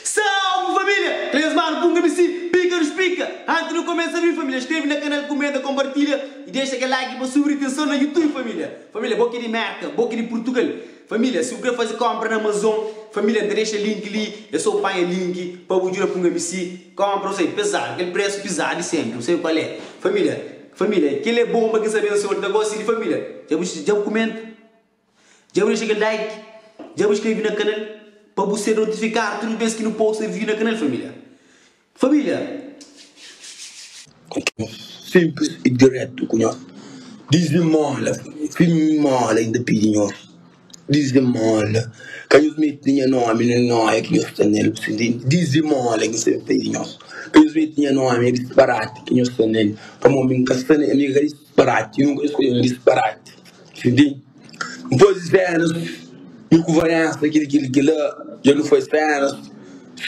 Salve família! Três manu p'un kabisi pika nos pika! Anti nu kumesa abri família skrebe na kanal kumenta konpartilha i dexa kel like pa subi ritenson na youtube família família bo ki di merka bo ki di purtugal família si bu kre faze konpra na amazon família nta dexa link li e so panha link pa bu djuda p'un kabisi konpra u sai pezadu kel presu pizadu di senpri u sai kual é família Família, kel-li é bon pa kes abensoadu ki ta gosta di família. Dja bu dja bu kumenta? Dja bu dexa kel like? Dja bu skrebe na kanal pa bu ser notifikadu tudu bês ki nu posta vídiu na kanal, família? Família! Sinplis y diretu ku nhos. Diz-mi, Móla, família. Fim, Móla inda pidi nhos. Dizimola, ka nhos mete nha nómi na nóia ki nhos sta na-l. Bu sibi? Dizimola, nhos sabe p'ai di nhos. Ka nhos mete nha nómi na disparati ki nhos sta na-l. Pamó, mi N ka sta na mi ka disparati. Nunka nhos skodje un disparati. Bu sibi? N faze sénus, mi ku Valénsa, kel-li, kel-li, kel-la. Dja nu faze sénus,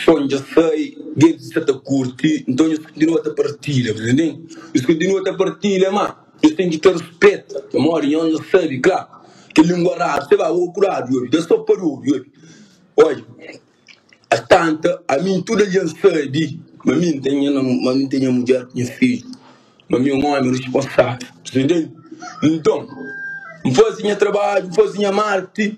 son dja sai, gentis sta ta kurti. Nton, nhos kontinua ta partilha. Bu ta intende? Nhos kontinua ta partilha, má. Nhos ten ki ta rispeta, pamodi nhos dja sabe kla kel língua radu se ba obi kuradu i obi, da so pa di obi i obi. Odja, astanta, ami i tudu algen sabe ma mi N ten nha namu, ma mi N ten nha mudjer ku nha fidju, ma mi é un ómi risponsável. Dja N faze nha trabadju, N faze nha marti.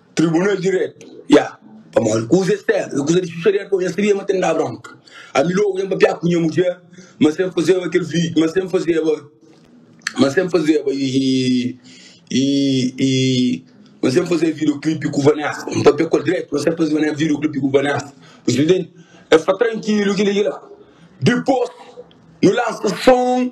Tribunal di Diretu, ya. Pamodi kuza es ten é kuza di xuxa di Adon. Nhas sabia ma ten da bronka. Ami lógu ben pâpia ku nha mudjer, ma sen fazeba kel vi, ma sen fazeba, ma sen fazeba i, i, i, ma sen fazeba videoclipe ku Vanessa. N pâpia ku el dretu, ma sen fazeba nen videoclipe ku Vanessa. Bu ta intende? El fla, Trankilu, kel-li ki la. Dipôs, nu lansa son.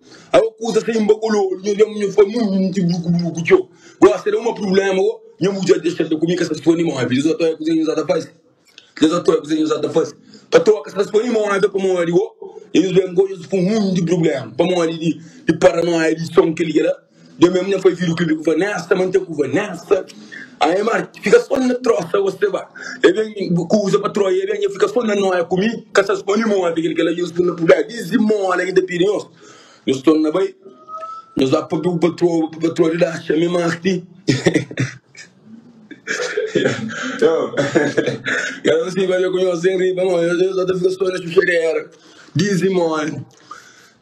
Aô kusa sai un bakololu nha dja munha fla mui mi ti bruku bruku txô gosta da uma problema aô nha mudjer dexa ta ku mi ka sa sponde move dja sa toia kuza nha sa ta fase dja sa toia kuza nha sa ta fase ta toka sa ta sponde move pamodi aô nha nhos ben aô nha sa fla mui mi ti problema pamodi di paranoia di son kel ki la. Deu mem nha fai vidu klibi ku vanesta mante ku vanesta aê mar fika son na trosa wos te ba e ben kuza pa troia e ben nha fika son na noia ku mi ka sa skonde moa fika kela nhos bu na pubea dizdi mola ki ta pidi nhos nhos torna bai nhos ba pa bu patroa pa patroa di daxa mi marti kela nhos fika bai ku nhos sen riba nhos nhos ta fika son na xuxadera dizdi mola.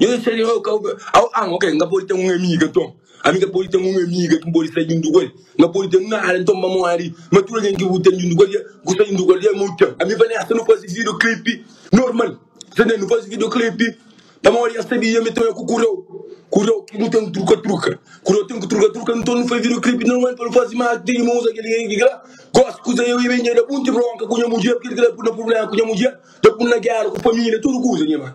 Nhos sta di novu ka obi au au ok n ka pode ten un amiga nton ami n ka pode ten un amiga ki n pode sta djuntu ku el n ka pode ten nada nton pamodi ma tudu algen ki bu ten djuntu ku el bu sta djuntu ku el ami u ten ami fla neh sta nu faze videoclip normal sta ntendi nu faze videoclip pamodi el sabia ami tanbê ku kurau kurau ki nu ten truka truka kurau ten ki truka truka nton nu faze videoclip normal pa nu faze ma ti ma uza kel ki kila gosi kuza eu i bnjada bu nti bronka ku nha mudjer kel kila pui na problema ku nha mudjer ta pui na géra ku família tudu kuza nha irman.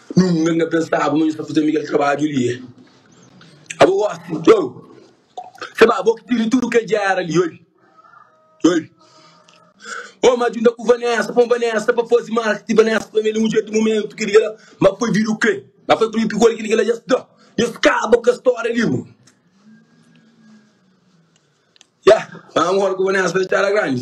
Nunka n'ka pensaba ma nhu sta faze miguel trabadju li e abo gosi txeu se ba bo ki tiri tudu kel gera li oi oi o ma djunta ku vanessa pon vanessa pa faze marketing vanessa pa mi el e mudjer di mumentu kel gera ma foi vida o ke ma foi primi pigol kel gera dja sta nhu skaba ku kes storia li bo ya ma agora ku vanessa dja txada grandi.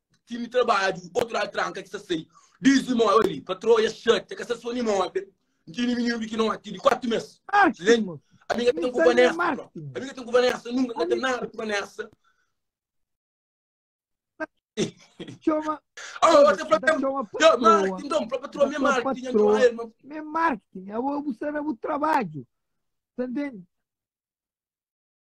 Kimi trabadju, otu ladu tranka ki sa sai. Diz di mó ori, pa troa ya xatia, ka sa so ni mó ben. Ntini mininu pikinó ati di kuatu mes. Lembra? Ami ka ten ku Vanessa, bro. Ami ka ten ku Vanessa, nunka ka ten nada ku Vanessa. Choma. Oh, você falou que chama patroa. Marketing, então, para patroa, minha marketing, eu chamo ele. Minha marketing, eu vou buscar o trabalho. Entendeu?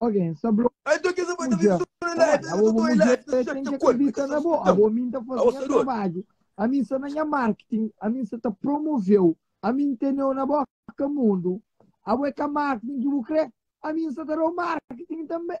Algen sa blo. Ai ntô kes avô ta ben sô na live, es ka ta oi live, ta xap nha korpu, es ta sô skuta-m. Avô mi N ta faze nha trabadju, ami N sta na nha marketing, ami N sta ta promove-u, ami N tene-u na bóka mundu. Avô é ka marketing ki bu kre, ami N sta ta da-u marketing tanbe.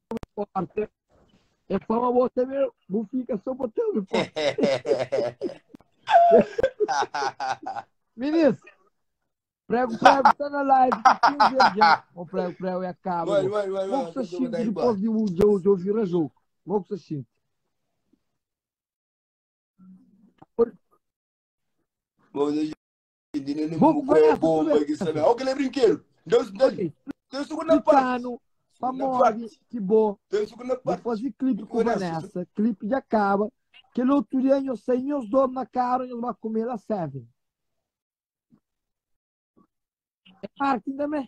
porta. É fama bo ta ver, bu fica só bo ta ver porta. Minis, prego, prego, tá na live, tá aqui um dia já. O prego, prego, é a cabo. Vai, vai, vai, Vou vai, com o Sachinho, vai, vai, depois de um dia, de ouvir a jogo. Vou com o Sachinho. Bom, Boku bai na futube. Splikanu pamodi ki bo bai fazi klipi ku Vanessa. Klipi dja kaba. Kel otu dia nhos sai nhos dos na karu nhos bai kume la seven. É marketing tanbe.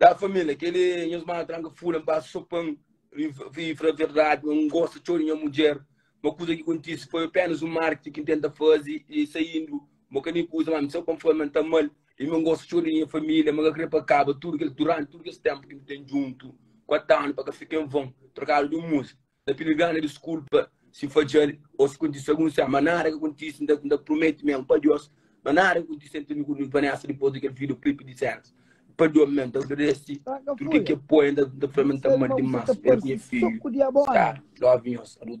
Ya família, keli nhos mana tranka fula-m ba so pa N fla verdadi, ma N gosta txeu di nha mudjer. Ma kuza ki kontise foi apénas un marketing ki N tenta faze i saindu. Bo ka nin kuza ma mi saba pa N fla-l ma N ta ama-l i ma N gosta txeu di nha família. Ma ka krê pa kaba tudu kel, duránti tudu kes ténpu ki nu ten djuntu, kuatu anu pa ka fika en von. Trokadu di un múzika. Na tene gana diskulpa si fadjal o si kontise algun se ama nada ka kontise n ta promete mi ama pa Dios ma nada ka kontise ente mi ku Vanessa dipos di kel video clip di Sérgio padron mi ta agradese tur ke ke poe n ta fla mi n ta amal dimas el ku nha fidju Sara love nhos ador.